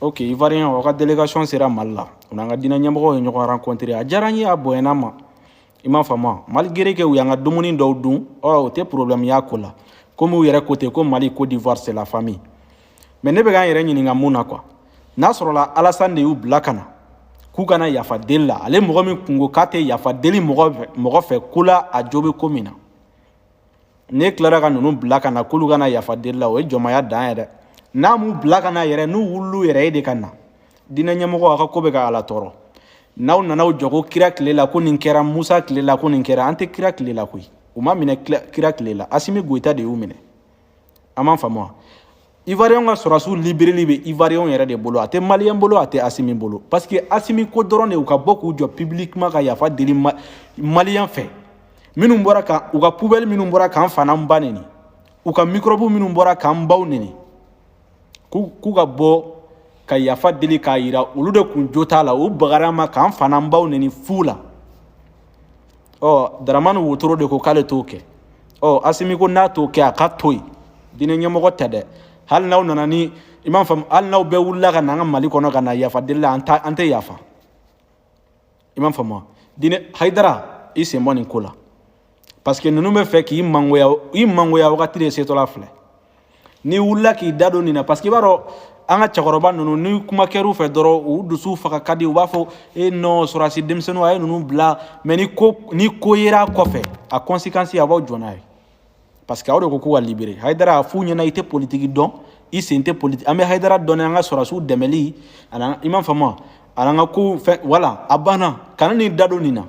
ok ivoirien aw ka délégation sera mali la u n'an ka diinɛ ɲɛmɔgɔw ye ɲɔgɔn rencontré a diyara n ye a bonyana n ma i m'a faamu malgré que u y'an ka dumuni dɔw dun ɔ o tɛ problème y'a ko la komi u yɛrɛ ko ten ko mali côte d'ivoire c'est la famille mais ne bɛ ka n yɛrɛ ɲininka mun na quoi n'a sɔrɔla alasani de y'u bila ka na k'u ka na yafa deli la ale mɔgɔ min kun ko k'a tɛ yafa deli mɔgɔ fɛ ko la a jo bɛ ko min na n'e tilara ka ninnu bila ka na k'olu ka na yafa deli la o ye jɔnmaya dan ye dɛ n'a m'u bila ka na yɛrɛ n'u wulil'u yɛrɛ ye de ka na diinɛ ɲɛmɔgɔ aw ka ko bɛ ka ala tɔɔrɔ n'aw nana aw jɔ ko kira tile la ko nin kɛra musa tile la ko nin kɛra an tɛ kira tile la koyi u ma minɛ kira tile la asimi goyita de y'u minɛ aw m'a faamu wa ivoiriyɛnw ka sɔrɔdasiw libereli bɛ ivoiriyɛnw yɛrɛ de bolo a tɛ maliyɛn bolo a tɛ asimi bolo parce que asimi ko dɔrɔn de u ka bɔ k'u jɔ publiquement ka yafa deli maliyɛn fɛ minnu bɔra ka u ka poubelle minnu bɔra k'an fa n'an ba neni u ka microbe minnu bɔra k'an baw neni k'u ka bɔ ka yafa deli k'a yira olu de kun jo t'a la u bagara an ma k'an fa n'an baw neni fu la ɔ daramani wotoro de ko k'ale t'o kɛ ɔ asimi ko n'a t'o kɛ a ka to yen diinɛ ɲɛmɔgɔ tɛ dɛ hali n'aw nana ni i m'a faamu hali n'aw bɛɛ wulila ka na an ka mali kɔnɔ ka na yafa deli la an tɛ yafa i m'a faamu diinɛ hayidara i sen bɔ nin ko la parce que ninnu bɛ fɛ k'i mangoya i mangoya wagati de setɔla filɛ n'i wulila k'i da don nin na parce que i b'a dɔn an ka cɛkɔrɔba ninnu ni kuma kɛr'u fɛ dɔrɔn u dusu faga ka di u b'a fɔ e non sɔrɔdasi denmisɛnninw a ye ninnu bila mais ni ko ni ko yera kɔfɛ a conséquence aw b'aw jɔ n'a ye parce que aw de ko k'u ka libere hayidara a f'u ɲɛna i tɛ politiki dɔn i sen tɛ politiki an bɛ hayidara dɔn an ka sɔrɔdasiw dɛmɛli ani i m'a faamu wa ani an ka kow fɛ voilà a banna kana n'i da don nin na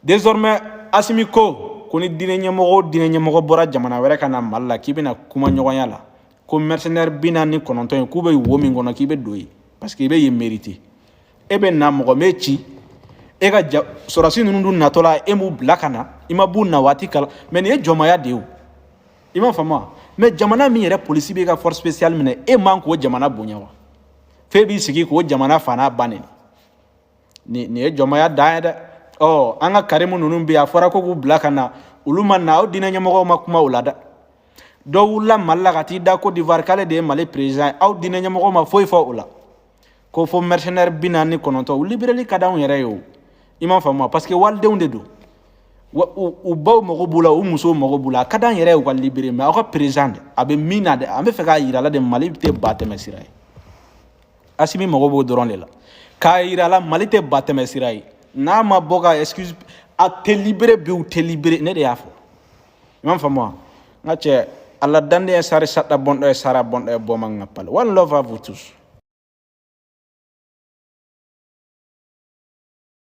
désormais asimi ko ko ni diinɛ ɲɛmɔgɔ o diinɛ ɲɛmɔgɔ bɔra jamana wɛrɛ ka na mali la k'i bɛna kuma ɲɔgɔnya la ko mercenaire bi naani ni kɔnɔntɔn ye k'u bɛ wo min kɔnɔ k'i bɛ don yen parce que i bɛ yen mérité e bɛ na mɔgɔ m'e ci e ka ja sɔrɔsi ninnu dun natɔla e m'u bila ka na i ma b'u na waati kala ma nin ye jɔnmaya de ye o i m'a faamu wa mais jamana min yɛrɛ polisi b'i ka force spéciale minɛ e man k'o jamana bonya wa f'e b'i sigi k'o jamana fa n'a ba neni ni nin ye jɔnmaya dan ye dɛ ɔ an ka karimu ninnu bɛ yen a fɔra ko k'u bila ka na olu ma na aw diinɛ ɲɛmɔgɔw ma kuma o la dɛ dɔ wulila mali la ka t'i da côte d'ivoire k'ale de ye mali perezan ye aw diinɛ ɲɛmɔgɔw ma foyi fɔ o la ko fo mɛrisenɛri bi naani ni kɔnɔntɔn u libereli ka d'anw yɛrɛ ye o i m'a faamu wa parce que walidenw de don wa u u baw mago b'u la u musow mago b'u la a ka d'an yɛrɛ ye u ka libere mais aw ka perezan de a bɛ min na dɛ an bɛ fɛ k'a yira la de mali tɛ ba tɛmɛ sira ye asimi mago b'o dɔrɔn de la k'a yira la mali tɛ ba tɛmɛ sira ye n'a ma bɔ ka excuse a tɛ libéré bi u tɛ libéré ne de y'a fɔ i m'a faamu wa n ka cɛ ala danden ye sari sata bɔndɔ ye sara bɔndɔ ye bɔ man ka pali one love à vous tous